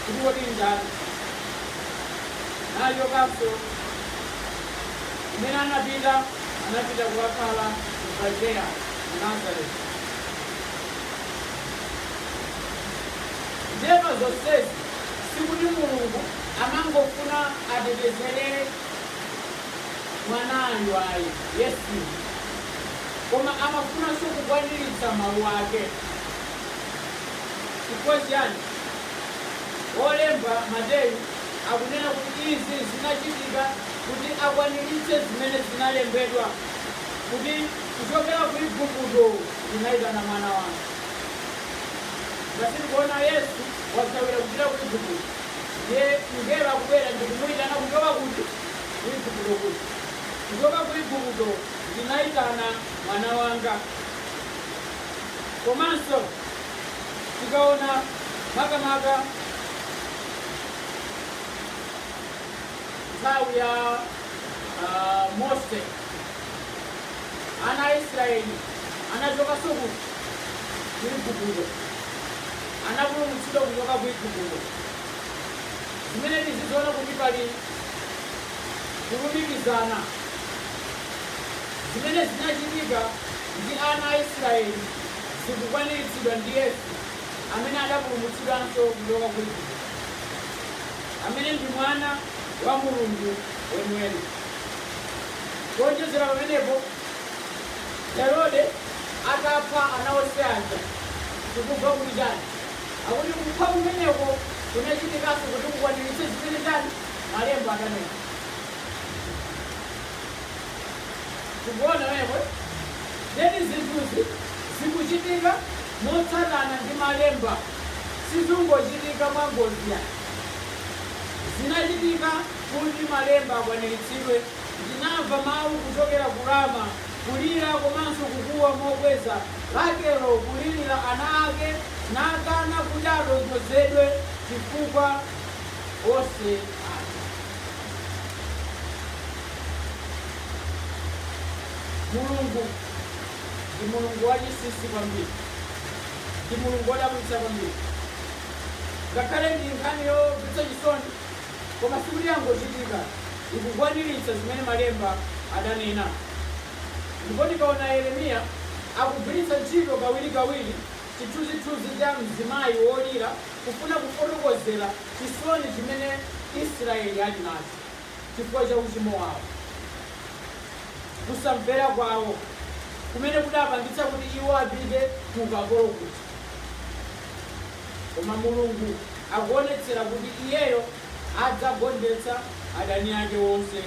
kuti kodi ndani nachokanso kumene anapita anapita kukakhala m'galileya ku nazareti ndiye pa zonsezi sikuti mulungu amangofuna atetezerere mwanayu ayi. Yesu, koma amafunanso kukwaniritsa mawu ake. Chifukwa chiyani? Wolemba, Mateyu, akunena kuti izi zinachitika kuti akwaniritse zimene zinalembedwa kuti, Kuchokera ku Igupto ndinaitana mwana wanga. Ngati tikuona Yesu wathawira kupita ku Igupto, ndiye mngelo akubwera ndi kumuitana kuchoka kuti? ku Igupto kuja. Kuchoka ku Igupto ndinayitana mwana wanga. Komanso tikaona makamaka nthawi ya ah, Mose, ana a Israeli anachokanso kuti ku Igupto, anapulumutsidwa kuchoka ku Igupto. Zimene tiziona kuti pali kulumikizana zimene zinachitika ndi ana a Israeli zikukwaniritsidwa ndi Yesu amene anapulumutsidwanso kuchoka ku Igupto, amene ndi Mwana wa Mulungu weniweni. Kuonjezera pamenepo, Herode atapha ana onse aja, tikumva kuti chani? akuti kupha kumeneko kunachitikanso kuti kukwaniritse zimene chani malemba adanena tikuona eti then zinthuzi zikuchitika motsatana ndi malemba sizingochitika mwangozi ayi zinachitika kuti malemba akwaniritsidwe ndinamva mawu kuchokera ku rama kulira komanso kukuwa mokweza, Rakelo kulirira ana ake, nakana kuti atonthozedwe chifukwa onse afa. Mulungu ndi Mulungu wachinsinsi kwambiri, ndi Mulungu wodabwitsa kwambiri. Ngakhale ndi nkhani yomvetsa chisoni, Koma sikuti yangochitika, ikukwaniritsa zimene Malemba ananena. Ndipo tikaona Yeremiya akugwiritsa ntchito kawirikawiri chithunzithunzi cha mzimayi wolira kufuna kufotokozera chisoni chimene Israeli ali nacho chifukwa cha uchimo wawo, kusamvera kwawo kumene kunapangitsa kuti iwo apite ku ukapolo kuja. Koma Mulungu akuonetsera kuti Iyeyo adzagonjetsa adani ake onse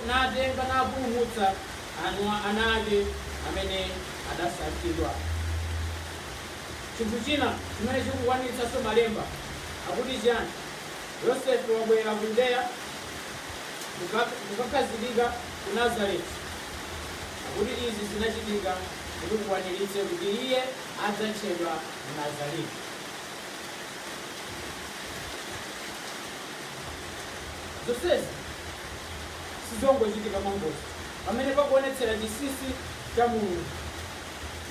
natenga napulumutsa ana ake amene adasankhidwa. Chinthu china chimene chikukwaniritsanso malemba akuti chiyani? Yosefe wabwera ku Yudeya kukakhazikika ku Nazareti. Akuti izi zinachitika kuti kukwaniritse kuti Iye. adzatchedwa Mnazareti. Zonsezi sizongochitika mwangozi. Pamene pakuonetsera chinsinsi cha Mulungu,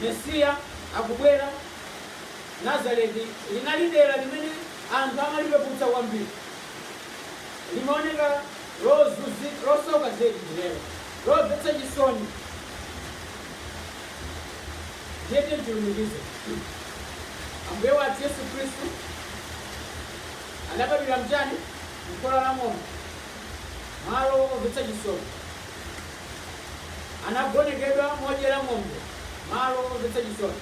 Mesiya akubwera. Nazareti linali dera limene anthu amalipeputsa kwambiri, limaoneka losauka zedi, ndi dera lomvetsa chisoni. Ndiye tilumikize. Ambuye wathu Yesu Khristu adabadwira mchani? Mkhola la ng'ombe, malo omvetsa chisoni. Anagonekedwa modyera ng'ombe, malo omvetsa chisoni.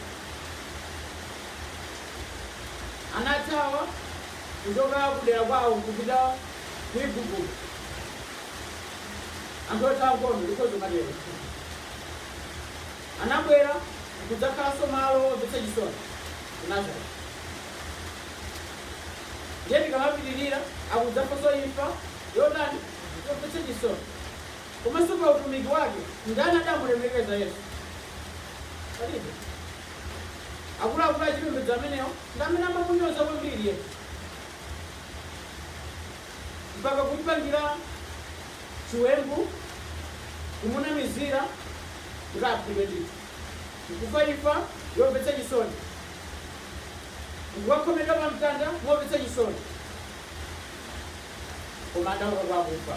Anathawa kuchoka kudera kwawo kupita ku Igupto. Anthu othawa nkhondo ndikhozo matero. anabwera nkudzakhalanso malo omvetsa chisoni ku Nazareti. Ndiye tikamapitirira, akudzafanso imfa yotani? Yomvetsa chisoni. Komanso pa utumiki wake, ndani adamulemekeza Yesu? Palibe. Akuluakulu achipembedzo amenewo ndi amene amamunyoza kwambiri Yesu mpaka kumpangira chiwembu, kumunamizira kuti aphedwe ndithu, nkufa imfa yomvetsa chisoni, nkukakhomedwa pa mtanda momvetsa chisoni, koma adauka kwa akufa.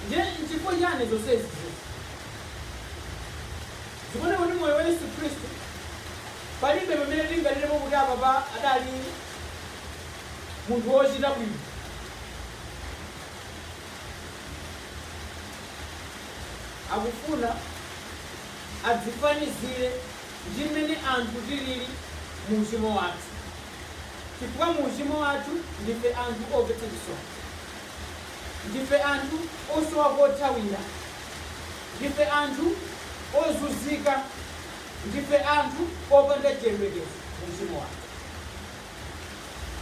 Ndiye nchifukwa chani zonsezi zikuoneka kuti moyo wa Yesu Khristu palibe pamene tinganenepo kuti apapa adali munthu wochita bwino. Akufuna adzifanizire ndi mmene anthu tilili mu uchimo wathu, chifukwa mu uchimo wathu ndife anthu omvetsa chisoni, ndife anthu osowa kothawira, ndife anthu ozunzika, ndife anthu opanda chiyembekezo mu uchimo wathu.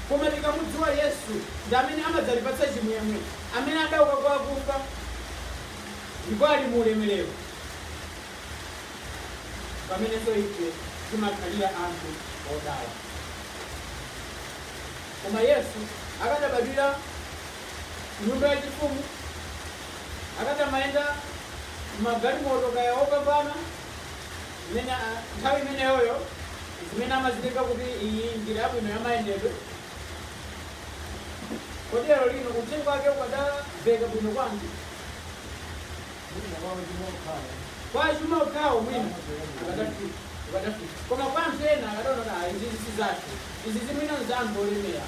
Koma tikamudziwa Yesu ndi amene amadzatipatsa chimwemwe, amene adauka kwa akufa ndipo ali mu ulemerero, mpamenenso ife timakhalira anthu odala. Koma Yesu akadabadwira nyumba yachifumu, akadamayenda m'magalimoto kaya opambana, imene nthawi imeneyoyo zimene amazitenga kuti iyi njira yabwino ya mayendedwe kodi lero lino uthenga wake ukadaveka bwino kwanji kwa achuma okhawo mwina ukadafika koma kwa anthu ena akadaona kuti izi si zathu izi zimene za anthu olemera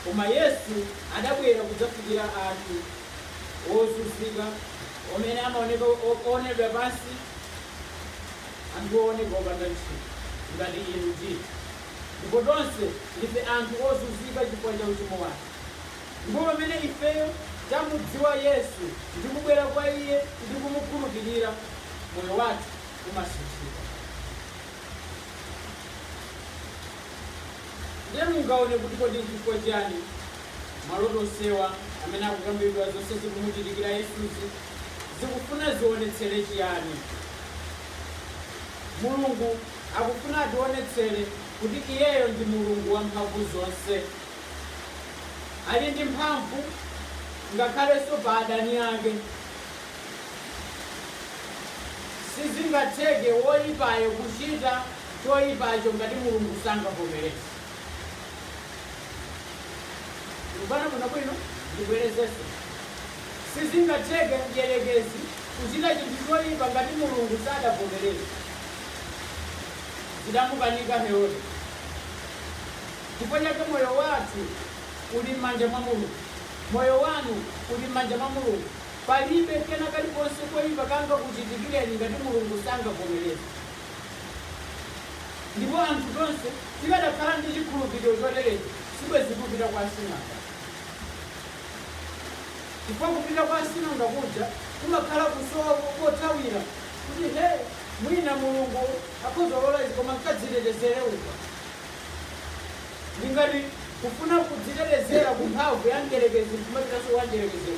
koma yesu adabwera kudzafikira anthu ozunzika Amene amaoneka oonedwa pansi Anthu ooneka opanda ntchito ngati inu ndi ine. Ndipo tonse ndife anthu ozunzika chifukwa cha uchimo wathu Ndipo pamene ifeyo tamudziwa Yesu ndi kubwera kwa Iye ndi kumukhulupirira, moyo wathu umasinthika. Ndiye mungaone kuti kodi nchifukwa chiyani Maloto onsewa amene akukambidwa, zonse zikumuchitikira Yesuzi, zikufuna zionetsere chiyani? Mulungu akufuna ationetsere kuti Iyeyo ndi Mulungu wamphamvu zonse. Ali ndi mphamvu ngakhalenso pa adani ake. Sizingatheke woipayo kuchita choipacho ngati Mulungu sangavomereze. Tikumvana bwino bwino ndibwerezenso. Sizingatheke mdierekezi kuchita chinthu choipa ngati Mulungu sadavomereze. Zidamukanika Herode. Chifukwa chake moyo wathu uli m'manja mwa Mulungu. Moyo wanu uli m'manja mwa Mulungu. Palibe kena kalikonse koipa kangakuchitikireni ngati Mulungu sangavomereze. ndipo anthu tonse tikadakhala ndi chikhulupiriro choterechi sibwenzi kupita kwa asing'anga chifukwa kupita kwa asing'anga kuja kumakhala kusowa kothawira kuti he mwina mulungu akhoza kulola izi koma nkadzitetezere uko ndingati kufuna kudzitetezera ku mphamvu ya mdyerekezi nkumapitanso kwa mdyerekeziyo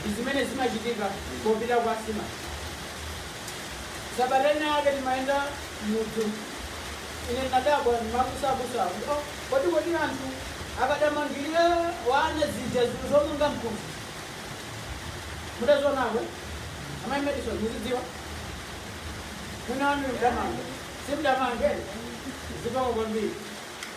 ndi zimene zimachitika popita kwa asing'anga. Sabata ina yake timayenda mudzi, ine ndinadabwa ndimakusakusa kuti "Oh, kodi anthu akadamangirira wana zija zomanga mkuzi mudazionako amayi Madison muzidziwa mwina wanu mudamanga simudamange zipako kwambiri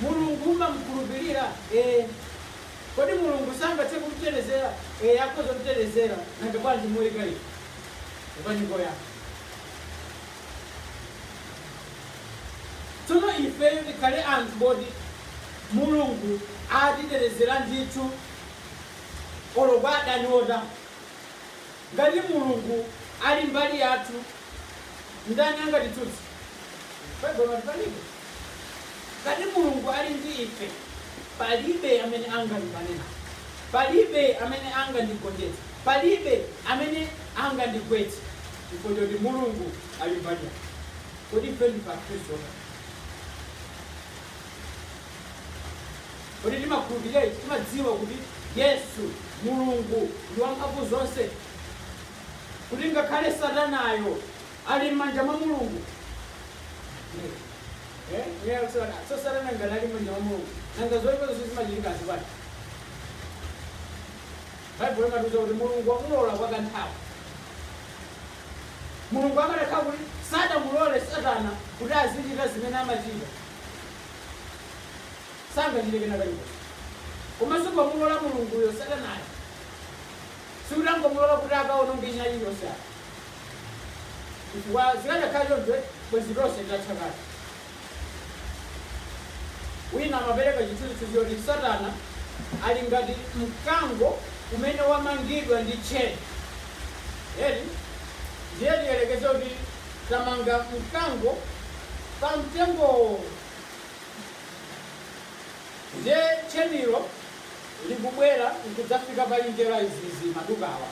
Mulungu umamukhulupilira? Kodi Mulungu sangathe kutitetezera? Ee akhoza kutitetezera. Nanga bwanji moipa inu? Pepani koyamba. Tsono ifeyo tikhale anthu oti Mulungu atitetezera ndithu olo kwa adani otani. Ngati Mulungu ali mbali yathu, ndani angatitsutse? Palibe. Ngati Mulungu ali ndi ife, palibe amene angalimbane nafe, palibe amene angandigonjetse, palibe amene angandigwetse chifukwa choti Mulungu ali mbali yathu. Kodi ife ndife Akhristu otani? Kodi timakhulupirira ichi? Timadziwa kuti Yesu, Mulungu, ndi wamphamvuzonse? Kuti ngakhale Satanayo ali m'manja mwa Mulungu? So Satana ngati ali m'manja mwa Mulungu, nanga zoipa zonse zimachitikazi bwanji? Baibulo limatiuza kuti Mulungu wamulola kwa kanthawi. Mulungu akanakhala kuti sadamulole Satana kuti azichita zimene amachita, sangachite kena kalikonse. Komanso pomulola Mulunguyo, Satanayo, sikuti angomulola kuti akawononge china chilichonse ayi. Chifukwa zikadakhala choncho, eh, bwenzi tonse titatha kale. Wina amapereka chithunzithunzi choti Satana ali ngati mkango umene wamangidwa ndi tcheni. Eti ndiye tiyerekeze kuti tamanga mkango pa mtengowo Ndiye tchenilo likubwera nkudzafika pa njira izizi madukawa.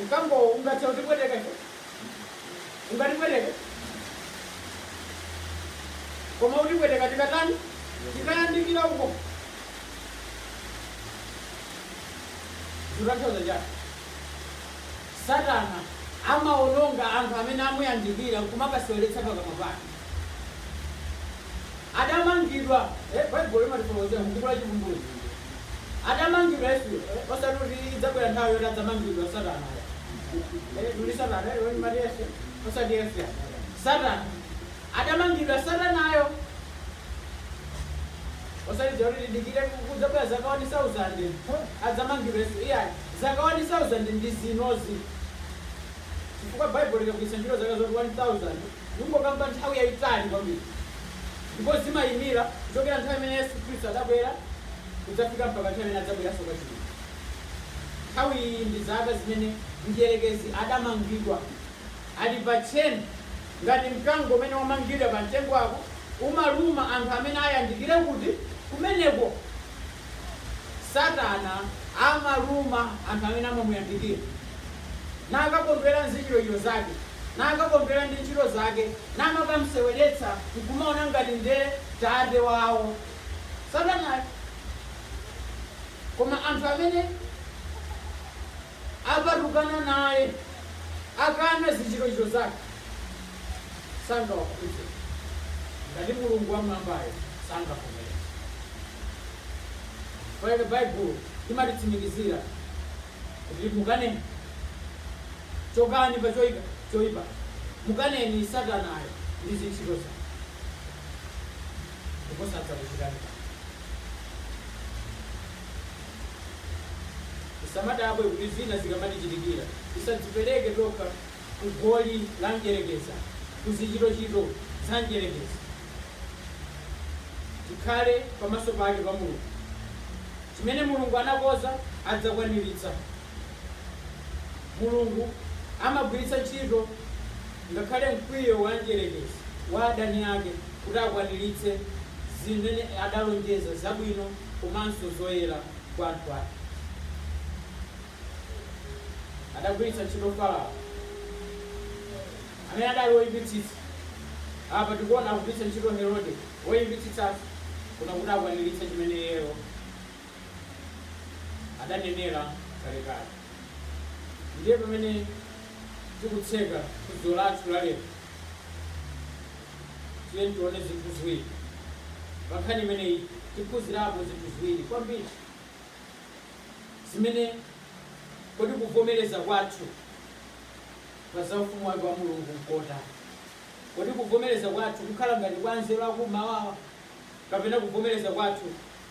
Mkango ungathe kutipweteka ife? Ungatipweteke? Koma utipweteka tikatani? Tikayandikira uko. Zikutanthauza chani? Satana amawononga anthu amene amuyandikira n'kumakaseweretsera pakamwa pake. Adamangidwa, eh, Baibulo limatifotokozera mu buku la Chivumbulutso. Adamangidwa Yesu, eh, osati kuti idzabwera nthawi yoti adzamangidwa Satana. Eh, tuli Satana, eh, limati Yesu, osati Yesu ya. Satana. Adamangidwa Satanayo. osati zoti tidikire kudzabwera zaka 1000 adzamangidwenso iyayi zaka 1000 ndi zinozi chifukwa baibulo likagwiritsa ntchito zaka zoti 1000 zikungokamba nthawi yayitali kwambiri ndipo zimayimira kuchokera nthawi imene yesu khristu adabwera kudzafika mpaka nthawi imene adzabweranso kachiwiri nthawi iyi ndi zaka zimene mdierekezi adamangidwa ali pa tcheni ngati mkango umene wamangidwa pa mtengo apo, umaluma anthu amene ayandikire kuti? kumeneko. Satana amaluma anthu amene amamuyandikira, nakakondwera nzichitochito zake, nakakondwera ndi ntchito zake, namakamseweretsa, nkumaona ngati nde tate wawo, satanayo. Koma anthu amene. Apatukana naye, akana zichitochito zake, sangawakhudze, ngati Mulungu wam'mwambayo sangavomereze. Chifukwa chake Bible limatitsimikizira kuti mukaneni, chokani pa choipa choipacho, mukaneni Satanayo ndi zintchito zake, ndipo sadzakuchitani kanthu. Tisamadabwe kuti zina zikamatichitikira. Tisadzipereke tokha ku goli la Mdyerekezi, ku zichitochito za Mdyerekezi. Tikhale pamaso pake pa Mulungu. Chimene Mulungu anakonza adzakwaniritsa. Mulungu amagwiritsa ntchito ngakhale mkwiyo wa Mdyerekezi, wa adani ake, kuti akwaniritse zimene adalonjeza zabwino. komanso zoyera kwa anthu ake. Adagwiritsa ntchito Farawo, amene adali woyipitsitsa. Apa tikuona akugwiritsa ntchito Herode woyipitsitsayo, koma kuti akwaniritse chimene iyeyo adanenera kalekale. Ndiye pamene tikutseka phunziro lathu la lero. Tiyeni tione zinthu ziwiri pa nkhani imeneyi. Tiphunzirapo zinthu ziwiri kwambiri zimene, kodi kuvomereza kwathu pa za Ufumu wake wa Mulungu n'kotani? Kodi kuvomereza kwathu kukhala ngati kwa anzeru akum'mawa, kapena kuvomereza kwathu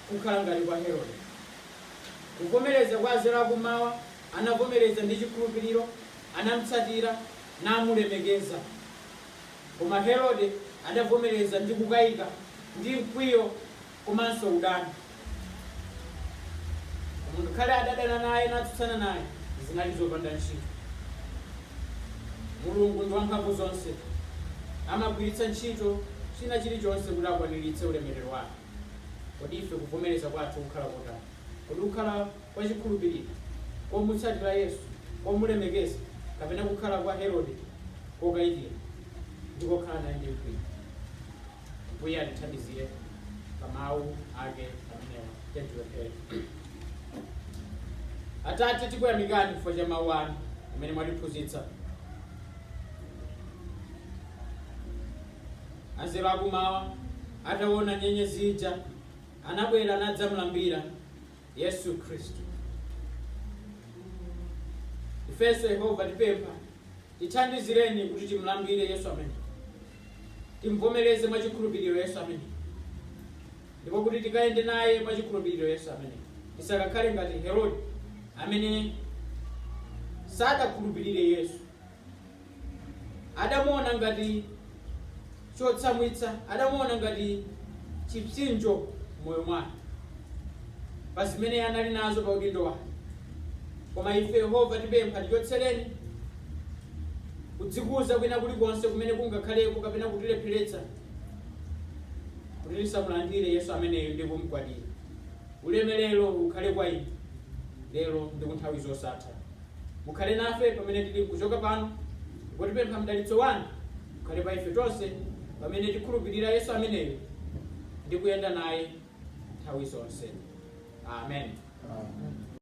kukhala ngati kwa Herode? Kuvomereza kwa anzeru akum'mawa, anavomereza ndi chikhulupiriro, anam'tsatira, namulemekeza. Koma Herode adavomereza ndi kukaika ndi mkwiyo komanso udani. Koma ngakhale adadana naye natsutsana naye, zinali zopanda ntchito. Mulungu ndi wamphamvu zonse, amagwiritsa ntchito china chilichonse kuti akwaniritse ulemerero wake. Kodi ife kuvomereza kwathu kukhala kotani? Kodi kukhala. kwa chikhulupiriro, komutsatira Yesu, komulemekeza, kapena kukhala kwa Herode kokaikira ndi kokhala naye ndi mkwiyo. Mbuye atithandizire pa mawu ake amenewa. Tiyeni tipemphere. Atate, tikuyamikani chifukwa cha mawu anu amene mwatiphunzitsa. Anzeru akumawa ataona nyenyezi ija anabwera nadzamlambira Yesu Khristu. Ifenso Yehova tipempha tithandizireni kuti timlambire Yesu ameneyu timvomereze mwa chikhulupiriro Yesu ameneyu ndipo kuti tikayende naye mwa chikhulupiriro Yesu ameneyu tisakakhale ngati Herode amene sadakhulupirire Yesu adamuona ngati chotsamwitsa adamuona ngati chipsinjo moyo mwake pa zimene anali nazo pa udindo wake koma ife yehova tipempha tichotsereni kudzikuza kwina kulikonse kumene kungakhaleko kapena kutilepheretsa kuti tisamulandire yesu ameneyo ndi kumgwadira ulemerero ukhale kwa inu lero ndi kunthawi zosatha Mukhale nafe pamene tili nkuchoka pano, ndipo tipempha mdalitso wanu ukhale pa ife tonse pamene tikhulupirira Yesu ameneyu ndi kuyenda naye nthawi zonse. Amen. Amen.